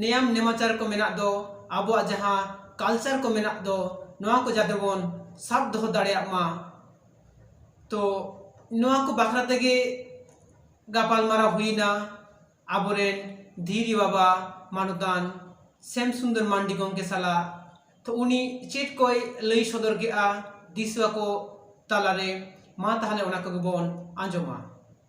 ᱱᱮᱭᱟᱢ ᱱᱮᱢᱟᱪᱟᱨ ᱠᱚ ᱢᱮᱱᱟᱜ ᱫᱚ ᱟᱵᱚᱣᱟᱜ ᱡᱟᱦᱟᱸ ᱠᱟᱞᱪᱟᱨ ᱠᱚ ᱢᱮᱱᱟᱜ ᱫᱚ ᱱᱚᱣᱟ ᱠᱚ ᱡᱟᱛᱮ ᱵᱚᱱ ᱥᱟᱵ ᱫᱚᱦᱚ ᱫᱟᱲᱮᱭᱟᱜ ᱢᱟ ᱛᱚ ᱱᱚᱣᱟ ᱠᱚ ᱵᱟᱠᱷᱨᱟ ᱛᱮᱜᱮ ᱜᱟᱯᱟᱞᱢᱟᱨᱟᱣ ᱦᱩᱭᱱᱟ ᱟᱵᱚᱨᱮᱱ ᱫᱷᱤᱨᱤ ᱵᱟᱵᱟ ᱢᱟᱱᱚᱛᱟᱱ ᱥᱮᱢ ᱥᱩᱱᱫᱚᱨ ᱢᱟᱱᱰᱤ ᱜᱚᱢᱠᱮ ᱥᱟᱞᱟᱜ ᱛᱚ ᱩᱱᱤ ᱪᱮᱫ ᱠᱚᱭ ᱞᱟᱹᱭ ᱥᱚᱫᱚᱨ ᱠᱮᱜᱼᱟ ᱫᱤᱥᱩᱣᱟᱹ ᱠᱚ ᱛᱟᱞᱟᱨᱮ ᱢᱟ ᱛᱟᱦᱚᱞᱮ ᱚᱱᱟ ᱠᱚᱜᱮ ᱵᱚᱱ ᱟᱸᱡᱚᱢᱟ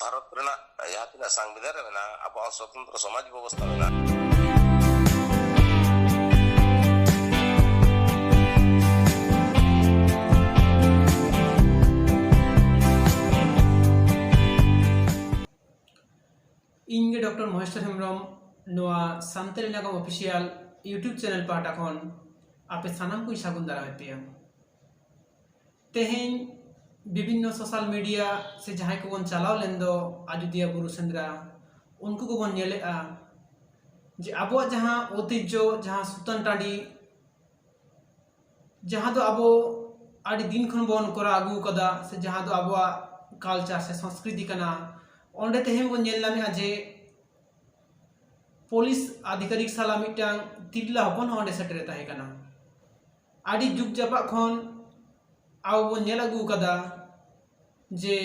ᱵᱷᱟᱨᱚᱛ ᱨᱮᱱᱟᱜ ᱡᱟᱦᱟᱸ ᱛᱤᱱᱟᱹᱜ ᱥᱟᱝᱵᱤᱫᱷᱟᱱ ᱨᱮ ᱢᱮᱱᱟᱜᱼᱟ ᱟᱵᱚᱣᱟᱜ ᱥᱚᱛᱚᱱᱛᱨᱚ ᱥᱚᱢᱟᱡᱽ ᱵᱮᱵᱚᱥᱛᱷᱟ ᱢᱮᱱᱟᱜᱼᱟ ᱤᱧ ᱜᱮ ᱰᱚᱠᱴᱚᱨ ᱢᱚᱦᱮᱥᱴᱚᱨ ᱦᱮᱢᱵᱨᱚᱢ ᱱᱚᱣᱟ ᱥᱟᱱᱛᱟᱲᱤ ᱱᱟᱜᱟᱢ ᱚᱯᱷᱤᱥᱤᱭᱟᱞ ᱤᱭᱩᱴᱩᱵᱽ ᱪᱮᱱᱮᱞ ᱯᱟᱦᱴᱟ ᱠᱷᱚᱱ ᱟᱯᱮ ᱥᱟᱱᱟᱢ ᱠᱚᱧ ᱥᱟᱹᱜᱩᱱ ᱫᱟᱨᱟᱢᱮᱫ ᱯᱮᱭᱟ ᱛᱮᱦᱮᱧ ᱵᱤᱵᱷᱤᱱᱱᱚ ᱥᱳᱥᱟᱞ ᱢᱤᱰᱤᱭᱟ ᱥᱮ ᱡᱟᱦᱟᱸᱭ ᱠᱚᱵᱚᱱ ᱪᱟᱞᱟᱣ ᱞᱮᱱ ᱫᱚ ᱟᱡᱳᱫᱤᱭᱟᱹ ᱵᱩᱨᱩ ᱥᱮᱸᱫᱽᱨᱟ ᱩᱱᱠᱩ ᱠᱚᱵᱚᱱ ᱧᱮᱞᱮᱜᱼᱟ ᱡᱮ ᱟᱵᱚᱣᱟᱜ ᱡᱟᱦᱟᱸ ᱳᱭᱛᱤᱡᱡᱚ ᱡᱟᱦᱟᱸ ᱥᱩᱛᱟᱹᱱ ᱴᱟᱺᱰᱤ ᱡᱟᱦᱟᱸ ᱫᱚ ᱟᱵᱚ ᱟᱹᱰᱤ ᱫᱤᱱ ᱠᱷᱚᱱ ᱵᱚᱱ ᱠᱚᱨᱟᱣ ᱟᱹᱜᱩ ᱠᱟᱫᱟ ᱥᱮ ᱡᱟᱦᱟᱸ ᱫᱚ ᱟᱵᱚᱣᱟᱜ ᱠᱟᱞᱪᱟᱨ ᱥᱮ ᱥᱚᱝᱥᱠᱨᱤᱛᱤ ᱠᱟᱱᱟ ᱚᱸᱰᱮ ᱛᱮᱦᱮᱧ ᱵᱚᱱ ᱧᱮᱞ ᱧᱟᱢᱮᱜᱼᱟ ᱡᱮ ᱯᱩᱞᱤᱥ ᱟᱫᱷᱤᱠᱟᱨᱤᱠ ᱥᱟᱞᱟᱜ ᱢᱤᱫᱴᱟᱝ ᱛᱤᱨᱞᱟᱹ ᱦᱚᱯᱚᱱ ᱦᱚᱸ ᱚᱸᱰᱮ ᱥᱮᱴᱮᱨᱮ ᱛᱟᱦᱮᱸ ᱠᱟᱱᱟ ᱟᱹᱰᱤ ᱡᱩᱜᱽ ᱡᱟᱯᱟᱜ ᱠᱷᱚᱱ ᱟᱵᱚ ᱵᱚᱱ ᱧᱮᱞ ᱟᱹᱜᱩ ᱟᱠᱟᱫᱟ ᱡᱮ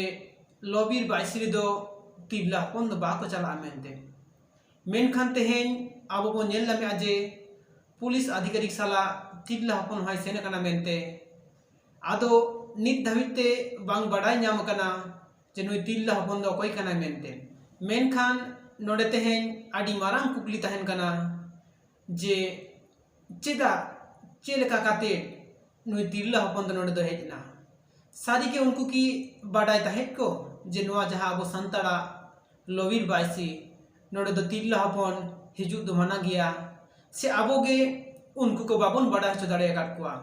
ᱞᱚᱵᱤᱨ ᱵᱟᱭᱥᱨᱤ ᱫᱚ ᱛᱤᱨᱞᱟᱹ ᱦᱚᱯᱚᱱ ᱫᱚ ᱵᱟᱠᱚ ᱪᱟᱞᱟᱜᱼᱟ ᱢᱮᱱᱛᱮ ᱢᱮᱱᱠᱷᱟᱱ ᱛᱮᱦᱮᱧ ᱟᱵᱚ ᱵᱚᱱ ᱧᱮᱞ ᱧᱟᱢᱮᱜᱼᱟ ᱡᱮ ᱯᱩᱞᱤᱥ ᱟᱫᱷᱤᱠᱟᱨᱤᱠ ᱥᱟᱞᱟᱜ ᱛᱤᱨᱞᱟᱹ ᱦᱚᱯᱚᱱ ᱦᱚᱸᱭ ᱥᱮᱱ ᱟᱠᱟᱱᱟ ᱢᱮᱱᱛᱮ ᱟᱫᱚ ᱱᱤᱛ ᱫᱷᱟᱹᱵᱤᱡ ᱛᱮ ᱵᱟᱝ ᱵᱟᱰᱟᱭ ᱧᱟᱢ ᱟᱠᱟᱱᱟ ᱡᱮ ᱱᱩᱭ ᱛᱤᱨᱞᱟᱹ ᱦᱚᱯᱚᱱ ᱫᱚ ᱚᱠᱚᱭ ᱠᱟᱱᱟᱭ ᱢᱮᱱᱛᱮ ᱢᱮᱱᱠᱷᱟᱱ ᱱᱚᱰᱮ ᱛᱮᱦᱮᱧ ᱟᱹᱰᱤ ᱢᱟᱨᱟᱝ ᱠᱩᱠᱞᱤ ᱛᱟᱦᱮᱱ ᱠᱟᱱᱟ ᱡᱮ ᱪᱮᱫᱟᱜ ᱪᱮᱫ ᱞᱮᱠᱟ ᱠᱟᱛᱮ ᱱᱩᱭ ᱛᱤᱨᱞᱟᱹ ᱦᱚᱯᱚᱱ ᱫᱚ ᱱᱚᱰᱮ ᱫᱚ ᱦᱮᱡ ᱮᱱᱟ ᱥᱟᱹᱨᱤ ᱜᱮ ᱩᱱᱠᱩ ᱠᱤ ᱵᱟᱰᱟᱭ ᱛᱟᱦᱮᱸᱫ ᱠᱚ ᱡᱮ ᱱᱚᱣᱟ ᱡᱟᱦᱟᱸ ᱟᱵᱚ ᱥᱟᱱᱛᱟᱲᱟᱜ ᱞᱚᱵᱤᱨ ᱵᱟᱭᱥᱤ ᱱᱚᱰᱮ ᱫᱚ ᱛᱤᱨᱞᱟᱹ ᱦᱚᱯᱚᱱ ᱦᱤᱡᱩᱜ ᱫᱚ ᱢᱟᱱᱟ ᱜᱮᱭᱟ ᱥᱮ ᱟᱵᱚ ᱜᱮ ᱩᱱᱠᱩ ᱠᱚ ᱵᱟᱵᱚᱱ ᱵᱟᱰᱟᱭ ᱦᱚᱪᱚ ᱫᱟᱲᱮ ᱟᱠᱟᱫ ᱠᱚᱣᱟ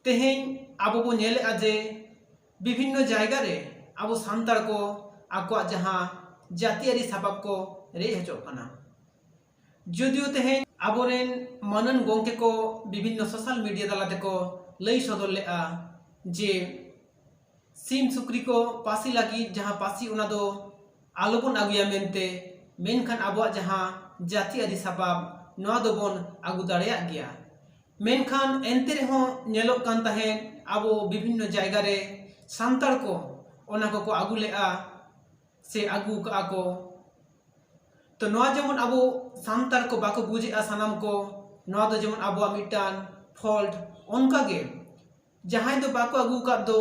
ᱛᱮᱦᱮᱧ ᱟᱵᱚ ᱵᱚ ᱧᱮᱞᱮᱫᱼᱟ ᱡᱮ ᱵᱤᱵᱷᱤᱱᱱᱚ ᱡᱟᱭᱜᱟ ᱨᱮ ᱟᱵᱚ ᱥᱟᱱᱛᱟᱲ ᱠᱚ ᱟᱠᱚᱣᱟᱜ ᱡᱟᱦᱟᱸ ᱡᱟᱹᱛᱤᱭᱟᱹᱨᱤ ᱥᱟᱯᱟᱵ ᱠᱚ ᱨᱮᱡ ᱦᱚᱪᱚᱜ ᱠᱟᱱᱟ ᱡᱚᱫᱤᱭᱳ ᱛᱮᱦᱮᱧ ᱟᱵᱚᱨᱮᱱ ᱢᱟᱹᱱᱟᱱ ᱜᱚᱢᱠᱮ ᱠᱚ ᱵᱤᱵᱷᱤᱱᱱᱚ ᱥᱳᱥᱟᱞ ᱢᱤᱰᱤᱭᱟ ᱛᱟᱞᱟ ᱛᱮᱠᱚ ᱞᱟᱹᱭ ᱥᱚᱫᱚᱨ ᱞᱮᱫᱼᱟ ᱡᱮ ᱥᱤᱢ ᱥᱩᱠᱨᱤ ᱠᱚ ᱯᱟᱹᱥᱤ ᱞᱟᱹᱜᱤᱫ ᱡᱟᱦᱟᱸ ᱯᱟᱹᱥᱤ ᱚᱱᱟ ᱫᱚ ᱟᱞᱚᱵᱚᱱ ᱟᱹᱜᱩᱭᱟ ᱢᱮᱱᱛᱮ ᱢᱮᱱᱠᱷᱟᱱ ᱟᱵᱚᱣᱟᱜ ᱡᱟᱦᱟᱸ ᱡᱟᱹᱛᱤ ᱟᱹᱨᱤ ᱥᱟᱯᱟᱵ ᱱᱚᱣᱟ ᱫᱚᱵᱚᱱ ᱟᱹᱜᱩ ᱫᱟᱲᱮᱭᱟᱜ ᱜᱮᱭᱟ ᱢᱮᱱᱠᱷᱟᱱ ᱮᱱᱛᱮ ᱨᱮᱦᱚᱸ ᱧᱮᱞᱚᱜ ᱠᱟᱱ ᱛᱟᱦᱮᱸᱫ ᱟᱵᱚ ᱵᱤᱵᱷᱤᱱᱱᱚ ᱡᱟᱭᱜᱟ ᱨᱮ ᱥᱟᱱᱛᱟᱲ ᱠᱚ ᱚᱱᱟ ᱠᱚᱠᱚ ᱟᱹᱜᱩ ᱞᱮᱫᱼᱟ ᱥᱮ ᱟᱹᱜᱩ ᱠᱟᱜᱼᱟ ᱠᱚ ᱛᱚ ᱱᱚᱣᱟ ᱡᱮᱢᱚᱱ ᱟᱵᱚ ᱥᱟᱱᱛᱟᱲ ᱠᱚ ᱵᱟᱠᱚ ᱵᱩᱡᱮᱜᱼᱟ ᱥᱟᱱᱟᱢ ᱠᱚ ᱱᱚᱣᱟ ᱫᱚ ᱡᱮᱢᱚᱱ ᱟᱵᱚᱣᱟᱜ ᱢᱤᱫᱴᱟᱝ ᱯᱷᱚᱞᱴ ᱚᱱᱠᱟᱜᱮ ᱡᱟᱦᱟᱸᱭ ᱫᱚ ᱵᱟᱠᱚ ᱟᱹᱜᱩ ᱠᱟᱫ ᱫᱚ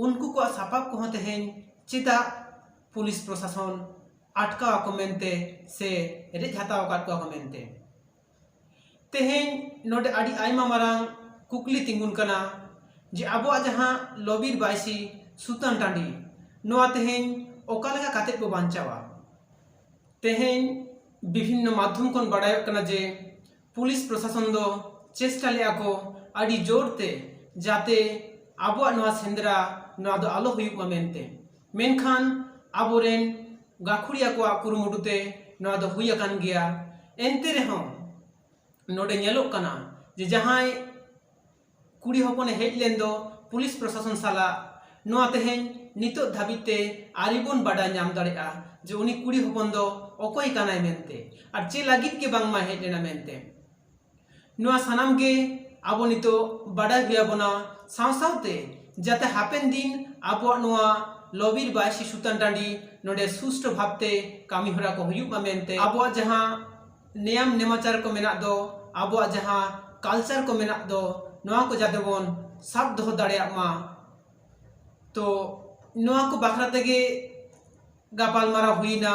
ᱩᱱᱠᱩ ᱠᱚᱣᱟᱜ ᱥᱟᱯᱟᱵ ᱠᱚᱦᱚᱸ ᱛᱮᱦᱮᱧ ᱪᱮᱫᱟᱜ ᱯᱩᱞᱤᱥ ᱯᱨᱚᱥᱟᱥᱚᱱ ᱟᱴᱠᱟᱣ ᱟᱠᱚ ᱢᱮᱱᱛᱮ ᱥᱮ ᱨᱮᱡ ᱦᱟᱛᱟᱣ ᱟᱠᱟᱫ ᱠᱚᱣᱟ ᱠᱚ ᱢᱮᱱᱛᱮ ᱛᱮᱦᱮᱧ ᱱᱚᱰᱮ ᱟᱹᱰᱤ ᱟᱭᱢᱟ ᱢᱟᱨᱟᱝ ᱠᱩᱠᱞᱤ ᱛᱤᱸᱜᱩᱱ ᱠᱟᱱᱟ ᱡᱮ ᱟᱵᱚᱣᱟᱜ ᱡᱟᱦᱟᱸ ᱞᱚᱼᱵᱤᱨ ᱵᱟᱹᱭᱥᱤ ᱥᱩᱛᱟᱹᱱ ᱴᱟᱺᱰᱤ ᱱᱚᱣᱟ ᱛᱮᱦᱮᱧ ᱚᱠᱟ ᱞᱮᱠᱟ ᱠᱟᱛᱮ ᱵᱚ ᱵᱟᱧᱪᱟᱣᱟ ᱛᱮᱦᱮᱧ ᱵᱤᱵᱷᱤᱱᱱᱚ ᱢᱟᱫᱽᱫᱷᱚᱢ ᱠᱷᱚᱱ ᱵᱟᱰᱟᱭᱚᱜ ᱠᱟᱱᱟ ᱡᱮ ᱯᱩᱞᱤᱥ ᱯᱨᱚᱥᱟᱥᱚᱱ ᱫᱚ ᱪᱮᱥᱴᱟ ᱞᱮᱜᱼᱟ ᱠᱚ ᱟᱹᱰᱤ ᱡᱳᱨ ᱛᱮ ᱡᱟᱛᱮ ᱟᱵᱚᱣᱟᱜ ᱱᱚᱣᱟ ᱥᱮᱸᱫᱽᱨᱟ ᱱᱚᱣᱟ ᱫᱚ ᱟᱞᱚ ᱦᱩᱭᱩᱜ ᱢᱟ ᱢᱮᱱᱛᱮ ᱢᱮᱱᱠᱷᱟᱱ ᱟᱵᱚ ᱨᱮᱱ ᱜᱟᱹᱠᱷᱩᱲᱤᱭᱟᱹ ᱠᱚᱣᱟᱜ ᱠᱩᱨᱩᱢᱩᱴᱩ ᱛᱮ ᱱᱚᱣᱟ ᱫᱚ ᱦᱩᱭ ᱟᱠᱟᱱ ᱜᱮᱭᱟ ᱮᱱᱛᱮ ᱨᱮᱦᱚᱸ ᱱᱚᱰᱮ ᱧᱮᱞᱚᱜ ᱠᱟᱱᱟ ᱡᱮ ᱡᱟᱦᱟᱸᱭ ᱠᱩᱲᱤ ᱦᱚᱯᱚᱱᱮ ᱦᱮᱡ ᱞᱮᱱ ᱫᱚ ᱯᱩᱞᱤᱥ ᱯᱨᱚᱥᱟᱥᱚᱱ ᱥᱟᱞᱟᱜ ᱱᱚᱣᱟ ᱛᱮᱦᱮᱧ ᱱᱤᱛᱚᱜ ᱫᱷᱟᱹᱵᱤᱡ ᱛᱮ ᱟᱹᱣᱨᱤ ᱵᱚᱱ ᱵᱟᱰᱟᱭ ᱧᱟᱢ ᱫᱟᱲᱮᱭᱟᱜᱼᱟ ᱡᱮ ᱩᱱᱤ ᱠᱩᱲᱤ ᱦᱚᱯᱚᱱ ᱫᱚ ᱚᱠᱚᱭ ᱠᱟᱱᱟᱭ ᱢᱮᱱᱛᱮ ᱟᱨ ᱪᱮᱫ ᱞᱟᱹᱜᱤᱫ ᱜᱮ ᱵᱟᱝᱢᱟᱭ ᱦᱮᱡ ᱞᱮᱱᱟ ᱢᱮᱱᱛᱮ ᱱᱚᱣᱟ ᱥᱟᱱᱟᱢ ᱜᱮ ᱟᱵᱚ ᱱᱤᱛᱚᱜ ᱵᱟᱰᱟᱭ ᱦᱩᱭ ᱟᱵᱚᱱᱟ ᱥᱟᱶ ᱥᱟᱶᱛᱮ ᱡᱟᱛᱮ ᱦᱟᱯᱮᱱ ᱫᱤᱱ ᱟᱵᱚᱣᱟᱜ ᱱᱚᱣᱟ ᱞᱚᱵᱤᱨ ᱵᱟᱭᱥᱤ ᱥᱩᱛᱟᱱ ᱴᱟᱺᱰᱤ ᱱᱚᱰᱮ ᱥᱩᱥᱴᱷ ᱵᱷᱟᱵᱛᱮ ᱠᱟᱹᱢᱤ ᱦᱚᱨᱟ ᱠᱚ ᱦᱩᱭᱩᱜ ᱢᱟ ᱢᱮᱱᱛᱮ ᱟᱵᱚᱣᱟᱜ ᱡᱟᱦᱟᱸ ᱱᱮᱭᱟᱢ ᱱᱮᱢᱟᱪᱟᱨ ᱠᱚ ᱢᱮᱱᱟᱜ ᱫᱚ ᱟᱵᱚᱣᱟᱜ ᱡᱟᱦᱟᱸ ᱠᱟᱞᱪᱟᱨ ᱠᱚ ᱢᱮᱱᱟᱜ ᱫᱚ ᱱᱚᱣᱟ ᱠᱚ ᱡᱟᱛᱮ ᱵᱚᱱ ᱥᱟᱵ ᱫᱚᱦᱚ ᱫᱟᱲᱮᱭᱟᱜ ᱢᱟ ᱛᱚ ᱱᱚᱣᱟ ᱠᱚ ᱵᱟᱠᱷᱨᱟ ᱛᱮᱜᱮ ᱜᱟᱯᱟᱞᱢᱟᱨᱟᱣ ᱦᱩᱭᱱᱟ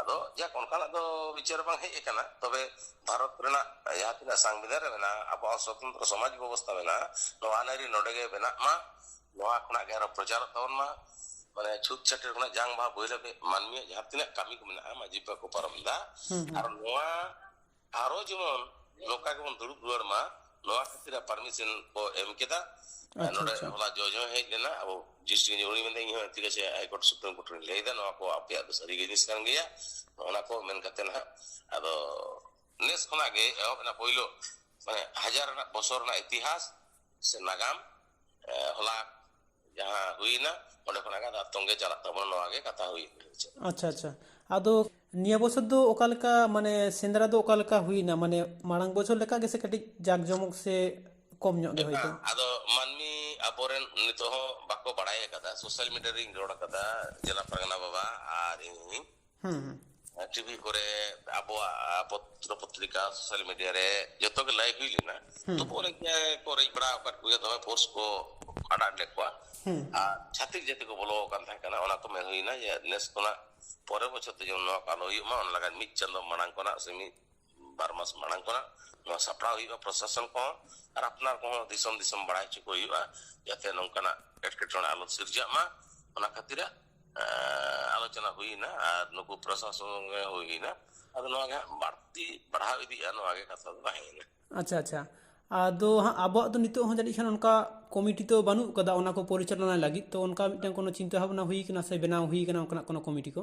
ᱟᱫᱚ ᱡᱟᱠ ᱚᱱᱠᱟᱱᱟᱜ ᱫᱚ ᱵᱤᱪᱟᱹᱨ ᱵᱟᱝ ᱦᱮᱡ ᱟᱠᱟᱱᱟ ᱛᱚᱵᱮ ᱵᱷᱟᱨᱚᱛ ᱨᱮᱱᱟᱜ ᱡᱟᱦᱟᱸ ᱛᱤᱱᱟᱹᱜ ᱥᱟᱝᱵᱤᱫᱷᱟᱱ ᱨᱮ ᱢᱮᱱᱟᱜᱼᱟ ᱟᱵᱚᱣᱟᱜ ᱥᱚᱛᱚᱱᱛᱨᱚ ᱥᱚᱢᱟᱡᱽ ᱵᱮᱵᱚᱥᱛᱷᱟ ᱢᱮᱱᱟᱜᱼᱟ ᱱᱚᱣᱟ ᱟᱹᱱ ᱟᱹᱨᱤ ᱱᱚᱰᱮ ᱜᱮ ᱵᱮᱱᱟᱜ ᱢᱟ ᱱᱚᱣᱟ ᱠᱷᱚᱱᱟᱜ ᱜᱮ ᱟᱨᱚ ᱯᱨᱚᱪᱟᱨᱚᱜ ᱛᱟᱵᱚᱱ ᱢᱟ ᱢᱟᱱᱮ ᱪᱷᱩᱴ ᱪᱷᱟᱹᱴᱤᱨ ᱠᱷᱚᱱᱟᱜ ᱡᱟᱝ ᱵᱟᱦᱟ ᱵᱳᱭ ᱞᱟᱹᱜᱤᱫ ᱢᱟᱹᱱᱢᱤᱭᱟᱜ ᱡᱟᱦᱟᱸ ᱛᱤᱱᱟᱹᱜ ᱠᱟᱹᱢᱤ ᱠᱚ ᱢᱮᱱᱟᱜᱼᱟ ᱢᱟᱹᱡᱷᱤ ᱵᱟᱵᱟ ᱠᱚ ᱯᱟᱨᱚᱢ ᱮᱫᱟ ᱟᱨ ᱱᱚᱣᱟ ᱟᱨᱚ ᱡᱮᱢᱚᱱ ᱱᱚᱝᱠᱟ ᱜᱮᱵᱚᱱ ᱫᱩᱲᱩᱵ ᱨᱩᱣᱟᱹᱲ ᱢᱟ ᱱᱚᱣᱟ ᱠᱷᱟᱹᱛᱤᱨ ᱯᱟᱨᱢᱤᱥᱚᱱ ᱠᱚ ᱮᱢ ᱠᱮᱫᱟ ᱱᱚᱰᱮ ᱦᱚᱞᱟ ᱡᱚᱡᱽ ᱦᱚᱸ ᱦᱮᱡ ᱞᱮᱱᱟ ᱟᱵᱚ ᱡᱤᱥᱴᱤ ᱩᱱᱤ ᱢᱮᱱᱫᱟ ᱤᱧ ᱦᱚᱸ ᱴᱷᱤᱠ ᱟᱪᱷᱮ ᱦᱟᱭᱠᱳᱨᱴ ᱥᱩᱯᱨᱤᱢ ᱠᱳᱨᱴ ᱨᱮᱧ ᱞᱟᱹᱭᱫᱟ ᱱᱚᱣᱟ ᱠᱚ ᱟᱯᱮᱭᱟᱜ ᱫᱚ ᱥᱟᱹᱨᱤ ᱡᱤᱱᱤᱥ ᱠᱟᱱ ᱜᱮᱭᱟ ᱚᱱᱟ ᱠᱚ ᱢᱮᱱ ᱠᱟᱛᱮ ᱱᱟᱦᱟᱜ ᱟᱫᱚ ᱱᱮᱥ ᱠᱷᱚᱱᱟᱜ ᱜᱮ ᱮᱦᱚᱵ ᱮᱱᱟ ᱯᱳᱭᱞᱳ ᱢᱟᱱᱮ ᱦᱟᱡᱟᱨ ᱨᱮᱱᱟᱜ ᱵᱚᱪᱷᱚᱨ ᱨᱮᱱᱟᱜ ᱤᱛᱤᱦᱟᱥ ᱥᱮ ᱱᱟᱜᱟᱢ ᱦᱚᱞᱟ ᱡᱟᱦᱟᱸ ᱦᱩᱭᱱᱟ ᱚᱸᱰᱮ ᱠᱷᱚᱱᱟᱜ ᱜᱮ ᱟᱨ ᱛᱚᱸᱜᱮ ᱪᱟᱞᱟᱜ ᱛᱟᱵᱚᱱᱟ ᱱᱚᱣᱟ ᱜᱮ ᱠᱟᱛᱷᱟ ᱦᱩᱭ ᱟᱪᱪᱷᱟ ᱟᱪᱪᱷᱟ ᱟᱫᱚ ᱱᱤᱭᱟᱹ ᱵᱚᱪᱷᱚᱨ ᱫᱚ ᱚᱠᱟ ᱞᱮᱠᱟ ᱢᱟᱱᱮ ᱥᱮᱸᱫᱽᱨᱟ ᱫᱚ ᱚᱠᱟ ᱞᱮᱠᱟ ᱦᱩᱭᱱᱟ ᱢᱟᱱᱮ ᱢᱟᱲᱟᱝ ᱵᱚᱪᱷᱚᱨ ᱞᱮᱠᱟ ᱜᱮᱥᱮ ᱠᱟᱹᱴᱤᱡ ᱡᱟᱠ ᱡᱚᱢᱚᱠ ᱥᱮ ᱠᱚᱢ ᱧᱚᱜ ᱜᱮ ᱦᱳᱭᱛᱳ ᱟᱫᱚ ᱢᱟᱹᱱᱢᱤ ᱟᱵᱚᱨᱮᱱ ᱱᱤᱛᱚᱜ ᱦᱚᱸ ᱵᱟᱠᱚ ᱵᱟᱲᱟᱭ ᱟᱠᱟᱫᱟ ᱥᱳᱥᱟᱞ ᱢᱤᱰᱤᱭᱟ ᱨᱤᱧ ᱨᱚᱲ ᱟᱠᱟᱫᱟ ᱡᱮᱞᱟ ᱯᱟᱨᱜᱟᱱᱟ ᱵᱟᱵᱟ ᱟᱨ ᱤᱧ ᱴᱤᱵᱷᱤ ᱠᱚᱨᱮ ᱟᱵᱚᱣᱟᱜ ᱯᱚᱛᱨᱚ ᱯᱚᱛᱨᱤᱠᱟ ᱥᱳᱥᱟᱞ ᱢᱤᱰᱤᱭᱟ ᱨᱮ ᱡᱚᱛᱚ ᱜᱮ ᱞᱟᱹᱭ ᱦᱩᱭ ᱞᱮᱱᱟ ᱛᱚᱵᱩ ᱚᱱᱮ ᱠᱚ ᱨᱮᱡ ᱵᱟᱲᱟ ᱟᱠᱟᱫ ᱠᱚᱜᱮᱭᱟ ᱫᱚᱢᱮ ᱯᱷᱳᱨᱥ ᱠᱚ ᱟᱲᱟᱜ ᱞᱮᱫ ᱠᱚᱣᱟ ᱟᱨ ᱪᱷᱟᱹᱛᱤᱠ ᱡᱟᱹᱛᱤ ᱠᱚ ᱵᱚᱞᱚ ᱟᱠᱟᱱ ᱛᱟᱦᱮᱸ ᱠᱟᱱᱟ ᱚᱱᱟ ᱠᱚ ᱢᱮᱱ ᱦᱩᱭᱱᱟ ᱡᱮ ᱱᱮᱥ ᱠᱷᱚᱱᱟᱜ ᱯᱚᱨᱮ ᱵᱚᱪᱷᱚᱨ ᱫᱚ ᱡᱮᱢᱚᱱ ᱱᱚᱣᱟ ᱠᱚ ᱟᱞᱚ ᱦᱩᱭᱩᱜ ᱢᱟ ᱚᱱᱟ ᱞᱟᱹᱜᱤᱫ ᱢᱤᱫ ᱪᱟᱸᱫᱚ ᱢᱟᱲᱟᱝ ᱠᱷᱚᱱᱟᱜ ᱥᱮ ᱢᱤᱫ ᱵᱟᱨ ᱢᱟᱥ ᱢᱟᱲᱟᱝ ᱠᱷᱚᱱᱟᱜ ᱱᱚᱣᱟ ᱥᱟᱯᱲᱟᱣ ᱦᱩᱭᱩᱜᱼᱟ ᱯᱨᱚᱥᱟᱥᱚᱱ ᱠᱚᱦᱚᱸ ᱟᱨ ᱟᱯᱱᱟᱨ ᱠᱚᱦᱚᱸ ᱫᱤᱥᱚᱢ ᱫᱤᱥᱚᱢ ᱵᱟᱲᱟᱭ ᱦᱚᱪᱚ ᱠᱚ ᱦᱩᱭᱩᱜᱼᱟ ᱡᱟᱛᱮ ᱱᱚᱝᱠᱟᱱᱟᱜ ᱮᱴᱠᱮᱴᱚᱬᱮ ᱟᱞᱚ ᱥᱤᱨᱡᱟᱜ ᱢᱟ ᱚᱱᱟ ᱠᱷᱟᱹᱛᱤᱨᱟᱜ ᱟᱞᱳᱪᱚᱱᱟ ᱦᱩᱭᱱᱟ ᱟᱨ ᱱᱩᱠᱩ ᱯᱨᱚᱥᱟᱥᱚᱱ ᱦᱩᱭᱱᱟ ᱟᱫᱚ ᱱᱚᱣᱟ ᱜᱮ ᱵᱟᱹᱲᱛᱤ ᱵᱟᱲᱦᱟᱣ ᱤᱫᱤᱜᱼᱟ ᱱᱚᱣᱟ ᱜᱮ ᱠᱟᱛᱷᱟ ᱫᱚ ᱛᱟᱦᱮᱸᱭᱮᱱᱟ ᱟᱪᱪᱷᱟ ᱟᱪᱪᱷᱟ ᱟᱫᱚ ᱦᱟᱸᱜ ᱟᱵᱚᱣᱟᱜ ᱫᱚ ᱱᱤᱛᱚᱜ ᱦᱚᱸ ᱡᱟᱹᱱᱤᱡ ᱠᱷᱟᱱ ᱚᱱᱠᱟ ᱠᱚᱢᱤᱴᱤ ᱛᱚ ᱵᱟᱹᱱᱩᱜ ᱠᱟᱫᱟ ᱚᱱᱟ ᱠᱚ ᱯᱚᱨᱤᱪᱟᱞᱚᱱᱟ ᱞᱟᱹᱜᱤᱫ ᱛᱚ ᱚᱱᱠᱟ ᱢᱤᱫᱴᱟᱝ ᱠᱳᱱᱳ ᱪᱤᱱᱛᱟᱹ ᱵᱷᱟᱵᱽᱱᱟ ᱦᱩᱭ ᱠᱟᱱᱟ ᱥᱮ ᱵᱮᱱᱟᱣ ᱦᱩᱭ ᱠᱟᱱᱟ ᱚᱱᱠᱟᱱᱟᱜ ᱠᱳᱱᱳ ᱠᱚᱢᱤᱴᱤ ᱠᱚ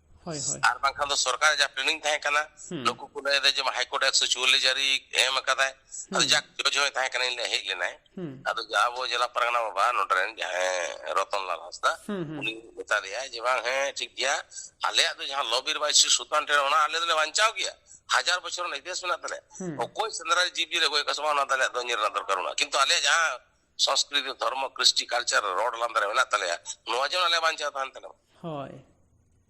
ᱦᱳᱭ ᱦᱳᱭ ᱟᱨ ᱵᱟᱝᱠᱷᱟᱱ ᱫᱚ ᱥᱚᱨᱠᱟᱨ ᱡᱟᱦᱟᱸ ᱯᱞᱮᱱᱤᱝ ᱛᱟᱦᱮᱸ ᱠᱟᱱᱟ ᱱᱩᱠᱩ ᱠᱚ ᱞᱟᱹᱭ ᱮᱫᱟ ᱡᱮ ᱦᱟᱭᱠᱳᱨᱴ ᱮᱠᱥᱚ ᱪᱩᱣᱟᱞᱞᱤᱥ ᱡᱟᱹᱨᱤ ᱮᱢ ᱟᱠᱟᱫᱟᱭ ᱟᱫᱚ ᱡᱟᱠ ᱡᱚᱡᱽ ᱦᱚᱸᱭ ᱛᱟᱦᱮᱸ ᱠᱟᱱᱟ ᱤᱧ ᱦᱮᱡ ᱞᱮᱱᱟᱭ ᱟᱫᱚ ᱟᱵᱚ ᱡᱮᱞᱟ ᱯᱟᱨᱜᱟᱱᱟ ᱵᱟᱵᱟ ᱱᱚᱰᱮ ᱨᱮᱱ ᱡᱟᱦᱟᱸᱭ ᱨᱚᱛᱚᱱ ᱞᱟᱞ ᱦᱟᱸᱥᱫᱟ ᱩᱱᱤ ᱢᱮᱛᱟ ᱫᱮᱭᱟᱭ ᱡᱮ ᱵᱟᱝ ᱦᱮᱸ ᱴᱷᱤᱠ ᱜᱮᱭᱟ ᱟᱞᱮᱭᱟᱜ ᱫᱚ ᱡᱟᱦᱟᱸ ᱞᱚᱵᱤᱨ ᱵᱟᱭ ᱥᱨᱤ ᱥᱩᱞᱛᱟᱱ ᱴᱷᱮᱱ ᱚᱱᱟ ᱟᱞᱮ ᱫᱚᱞᱮ ᱵᱟᱧᱪᱟᱣ ᱜᱮᱭᱟ ᱦᱟᱡᱟᱨ ᱵᱚᱪᱷᱚᱨ ᱨᱮᱱᱟᱜ ᱤᱛᱤᱦᱟᱥ ᱢᱮᱱᱟᱜ ᱛᱟᱞᱮᱭᱟ ᱚᱠᱚᱭ ᱥᱮᱸᱫᱽᱨᱟ ᱡᱤᱵᱽ ᱡᱤᱭᱟᱹᱞᱤ ᱜᱚᱡ ᱠᱟᱜ ᱥᱮ ᱵᱟᱝ ᱚᱱᱟ ᱫᱚ ᱟᱞᱮᱭᱟᱜ ᱫᱚ ᱧᱮᱞ ᱨᱮᱱᱟᱜ ᱫᱚᱨᱠᱟᱨ ᱵᱟᱹᱱᱩᱜᱼᱟ ᱠᱤᱱᱛᱩ ᱟᱞᱮᱭᱟᱜ ᱡᱟᱦᱟᱸ ᱥᱚᱸᱥᱠᱨᱤᱛᱤ ᱫᱷᱚᱨᱢᱚ ᱠᱨᱤᱥᱴᱤ ᱠᱟᱞᱪᱟᱨ ᱨᱚᱲ ᱞᱟᱸᱫᱟ ᱨᱮ ᱢᱮᱱᱟᱜ ᱛᱟᱞᱮᱭᱟ ᱱᱚᱣᱟ ᱡᱮᱱᱚ ᱟᱞᱮ ᱵᱟᱧᱪᱟᱣ ᱛᱟᱦᱮᱱ ᱛᱟᱞᱮ ᱦᱳᱭ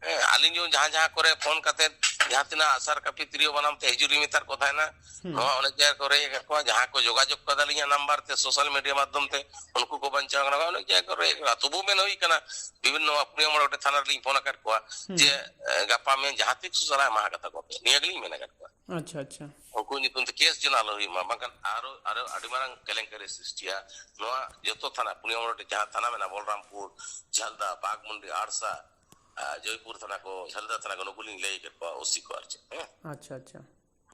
ᱦᱮᱸ ᱟᱹᱞᱤᱧ ᱡᱮᱢᱚᱱ ᱡᱟᱦᱟᱸ ᱡᱟᱦᱟᱸ ᱠᱚᱨᱮ ᱯᱷᱳᱱ ᱠᱟᱛᱮ ᱡᱟᱦᱟᱸ ᱛᱤᱱᱟᱹᱜ ᱟᱥᱟᱨ ᱠᱟᱹᱯᱤ ᱛᱤᱨᱭᱳ ᱵᱟᱱᱟᱢ ᱛᱮ ᱦᱤᱡᱩᱜ ᱞᱤᱧ ᱢᱮᱛᱟᱫ ᱠᱚ ᱛᱟᱦᱮᱱᱟ ᱱᱚᱣᱟ ᱚᱱᱮᱠ ᱡᱟᱭᱜᱟ ᱠᱚᱨᱮ ᱦᱮᱡ ᱟᱠᱟᱫ ᱠᱚᱣᱟ ᱡᱟᱦᱟᱸ ᱠᱚ ᱡᱳᱜᱟᱡᱳᱜ ᱠᱟᱫᱟ ᱞᱤᱧᱟ ᱱᱟᱢᱵᱟᱨ ᱛᱮ ᱥᱳᱥᱟᱞ ᱢᱤᱰᱤᱭᱟ ᱢᱟᱫᱽᱫᱷᱚᱢ ᱛᱮ ᱩᱱᱠᱩ ᱠᱚ ᱵᱟᱧᱪᱟᱣ ᱠᱟᱱᱟ ᱚᱱᱮᱠ ᱡᱟᱭᱜᱟ ᱠᱚᱨᱮ ᱦᱮᱡ ᱟᱠᱟᱱᱟ ᱛᱚᱵᱩ ᱢᱮᱱ ᱦᱩᱭ ᱠᱟᱱᱟ ᱵᱤᱵᱷᱤᱱᱱᱚ ᱯᱩᱱᱭᱟ ᱢᱚᱬᱮ ᱜᱚᱴᱮᱡ ᱛᱷᱟᱱᱟ ᱨᱮᱞᱤᱧ ᱯᱷᱳᱱ ᱟᱠᱟᱫ ᱠᱚᱣᱟ ᱡᱮ ᱜᱟᱯᱟ ᱢᱮᱭᱟᱝ ᱡᱟᱦᱟᱸ ᱛᱤᱥ ᱥᱟᱞᱟᱜ ᱮᱢᱟ ᱠᱟᱛᱟ ᱠᱚᱯᱮ ᱱᱤᱭᱟᱹ ᱜᱮᱞᱤᱧ ᱢᱮᱱ ᱟᱠᱟᱫ ᱠᱚᱣᱟ ᱟᱪᱪᱷᱟ ᱟᱪᱪᱷᱟ ᱩᱱᱠᱩ ᱧᱩᱛᱩᱢ ᱛᱮ ᱠᱮᱥ ᱡᱮᱱᱚ ᱟᱞᱚ ᱦᱩᱭᱩᱜ ᱢᱟ ᱵᱟᱝᱠᱷᱟᱱ ᱟᱨᱚ ᱟᱨᱚ ᱟᱹᱰᱤ ᱢᱟᱨᱟᱝ ᱠᱮᱞᱮᱝᱠᱟᱨᱤ ᱥᱨᱤᱥᱴᱤᱭᱟ ᱱᱚᱣᱟ ᱡᱚᱛᱚ ᱛᱷᱟᱱᱟ ᱯᱩᱱᱭᱟ ᱢᱚᱬᱮ ᱡᱟᱦᱟᱸ ᱛᱷᱟᱱᱟ ᱢᱮᱱᱟᱜᱼᱟ ᱵᱚᱞᱨᱟᱢᱯᱩᱨ ᱡᱷᱟᱞᱫᱟ ᱵᱟᱜᱽᱢᱩᱱᱰᱤ ᱟᱲᱥᱟ ᱡᱚᱭᱯᱩᱨ ᱛᱷᱟᱱᱟ ᱠᱚ ᱡᱷᱟᱞᱫᱟ ᱛᱷᱟᱱᱟ ᱠᱚ ᱱᱩᱠᱩ ᱞᱤᱧ ᱞᱟᱹᱭ ᱠᱮᱫ ᱠᱚᱣᱟ ᱳᱥᱤ ᱠᱚ ᱟᱨ ᱪᱮᱫ ᱦᱮᱸ ᱟᱪᱪᱷᱟ ᱟᱪᱪᱷᱟ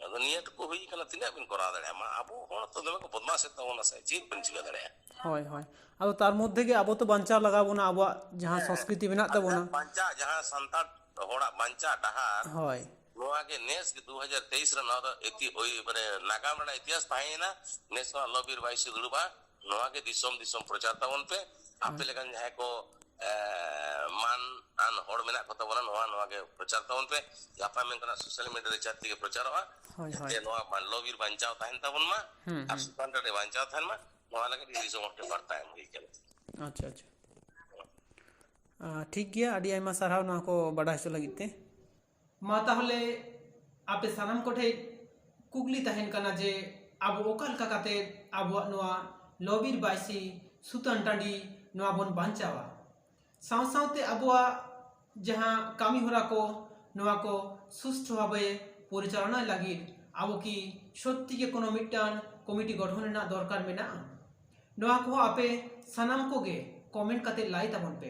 ᱟᱫᱚ ᱱᱤᱭᱟᱹ ᱴᱩᱠᱩ ᱦᱩᱭ ᱠᱟᱱᱟ ᱛᱤᱱᱟᱹᱜ ᱵᱤᱱ ᱠᱚᱨᱟᱣ ᱫᱟᱲᱮᱭᱟᱜᱼᱟ ᱢᱟ ᱟᱵᱚ ᱦᱚᱲ ᱛᱚ ᱫᱚᱢᱮ ᱠᱚ ᱵᱚᱫᱢᱟᱥᱮᱫ ᱛᱟᱵᱚᱱᱟ ᱥᱮ ᱪᱮᱫ ᱵᱤᱱ ᱪᱤᱠᱟᱹ ᱫᱟᱲᱮᱭᱟᱜᱼᱟ ᱦᱳᱭ ᱦᱳᱭ ᱟᱫᱚ ᱛᱟᱨ ᱢᱚᱫᱽᱫᱷᱮ ᱜᱮ ᱟᱵᱚ ᱛᱚ ᱵᱟᱧᱪᱟᱣ ᱞᱟᱜᱟᱣ ᱵᱚᱱᱟ ᱟᱵᱚᱣᱟᱜ ᱡᱟᱦᱟᱸ ᱥᱚᱸᱥᱠᱨᱤᱛᱤ ᱢᱮᱱᱟᱜ ᱛᱟᱵᱚᱱᱟ ᱵᱟᱧᱪᱟᱜ ᱡᱟᱦᱟᱸ ᱥᱟᱱᱛᱟᱲ ᱦᱚᱲᱟᱜ ᱵᱟᱧᱪᱟᱜ ᱰᱟᱦᱟᱨ ᱦᱳᱭ ᱱᱚᱣᱟ ᱜᱮ ᱱᱮᱥ ᱜᱮ 2023 ᱨᱮ ᱱᱚᱣᱟ ᱫᱚ ᱮᱛᱤ ᱳᱭ ᱢᱟᱱᱮ ᱱᱟᱜᱟᱢ ᱨᱮᱱᱟᱜ ᱤᱛᱤᱦᱟᱥ ᱛᱟᱦᱮᱸᱭᱮᱱᱟ ᱱᱮᱥ ᱦᱚᱸ ᱟᱞᱚ ᱵᱤᱨ ᱵᱟᱭᱥᱤ ᱫᱩᱲᱩᱵᱟ ᱱᱚᱣᱟ ᱜᱮ ᱫᱤᱥᱚᱢ ᱫᱤᱥᱚᱢ ᱯᱨᱚᱪᱟᱨ ᱛᱟᱵᱚᱱ ᱯᱮ ᱟᱯᱮ ᱞᱮᱠᱟᱱ ᱡᱟᱦᱟᱸᱭ ᱠᱚ ᱢᱟᱱ ᱟᱱ ᱦᱚᱲ ᱢᱮᱱᱟᱜ ᱠᱚ ᱛᱟᱵᱚᱱᱟ ᱱᱚᱣᱟ ᱱᱚᱣᱟ ᱜᱮ ᱯᱨᱚᱪᱟᱨ ᱛᱟᱵᱚᱱ ᱯᱮ ᱜᱟᱯᱟ ᱢᱮᱱ ᱠᱟᱱᱟ ᱥᱳᱥᱟᱞ ᱢᱤᱰᱤᱭᱟ ᱨᱮ ᱪᱟᱛᱤ ᱜᱮ ᱯᱨᱚᱪᱟᱨᱚᱜᱼᱟ ᱡᱟᱛᱮ ᱱᱚᱣᱟ ᱢᱟᱱᱞᱚ ᱵᱤᱨ ᱵᱟᱧᱪᱟᱣ ᱛᱟᱦᱮᱱ ᱛᱟᱵᱚᱱ ᱢᱟ ᱟᱨ ᱥᱩᱛᱟᱱ ᱴᱟᱺᱰᱤ ᱵᱟᱧᱪᱟᱣ ᱛᱟᱦᱮᱱ ᱢᱟ ᱱᱚᱣᱟ ᱞᱟᱹᱜᱤᱫ ᱫᱤᱥᱚᱢ ᱦᱚᱲ ᱴᱷᱮᱱ ᱵᱟᱨᱛᱟ ᱮᱢ ᱦᱩᱭ ᱠᱟᱱᱟ ᱟᱪᱪᱷᱟ ᱟᱪᱪᱷᱟ ᱴᱷᱤᱠ ᱜᱮᱭᱟ ᱟᱹᱰᱤ ᱟᱭᱢᱟ ᱥᱟᱨᱦᱟᱣ ᱱᱚᱣᱟ ᱠᱚ ᱵᱟᱰᱟᱭ ᱦᱚᱪᱚ ᱞᱟᱹᱜᱤᱫ ᱛᱮ ᱢᱟ ᱛᱟᱦᱚᱞᱮ ᱟᱯᱮ ᱥᱟᱱᱟᱢ ᱠᱚᱴᱷᱮᱡ ᱠᱩᱠᱞᱤ ᱛᱟᱦᱮᱱ ᱠᱟᱱᱟ ᱡᱮ ᱟᱵᱚ ᱚᱠᱟ ᱞᱮᱠᱟ ᱠᱟᱛᱮ ᱟᱵᱚᱣᱟᱜ ᱱᱚᱣᱟ ᱞᱚᱵᱤᱨ ᱵᱟᱭᱥᱤ ᱥᱩᱛᱟᱹᱱ ᱴᱟᱺᱰᱤ ᱱᱚᱣᱟ ᱵᱚᱱ ᱵᱟᱧᱪᱟᱣᱟ ᱥᱟᱶ ᱥᱟᱶᱛᱮ ᱟᱵᱚᱣᱟᱜ ᱡᱟᱦᱟᱸ ᱠᱟᱹᱢᱤ ᱦᱚᱨᱟ ᱠᱚ ᱱᱚᱣᱟ ᱠᱚ ᱥᱩᱥᱴᱷᱚ ᱵᱷᱟᱵᱮ ᱯᱚᱨᱤᱪᱟᱞᱚᱱᱟᱭ ᱞᱟᱹᱜᱤᱫ ᱟᱵᱚ ᱠᱤ ᱥᱚᱛᱛᱤ ᱜᱮ ᱠᱳᱱᱳ ᱢᱤᱫᱴᱟᱝ ᱠᱚᱢᱤᱴᱤ ᱜᱚᱴᱷᱚᱱ ᱨᱮᱱᱟᱜ ᱫᱚᱨᱠᱟᱨ ᱢᱮᱱᱟᱜᱼᱟ ᱱᱚᱣᱟ ᱠᱚᱦᱚᱸ ᱟᱯᱮ ᱥᱟᱱᱟᱢ ᱠᱚᱜᱮ ᱠᱚᱢᱮᱱᱴ ᱠᱟᱛᱮ ᱞᱟᱹᱭ ᱛᱟᱵᱚᱱ ᱯᱮ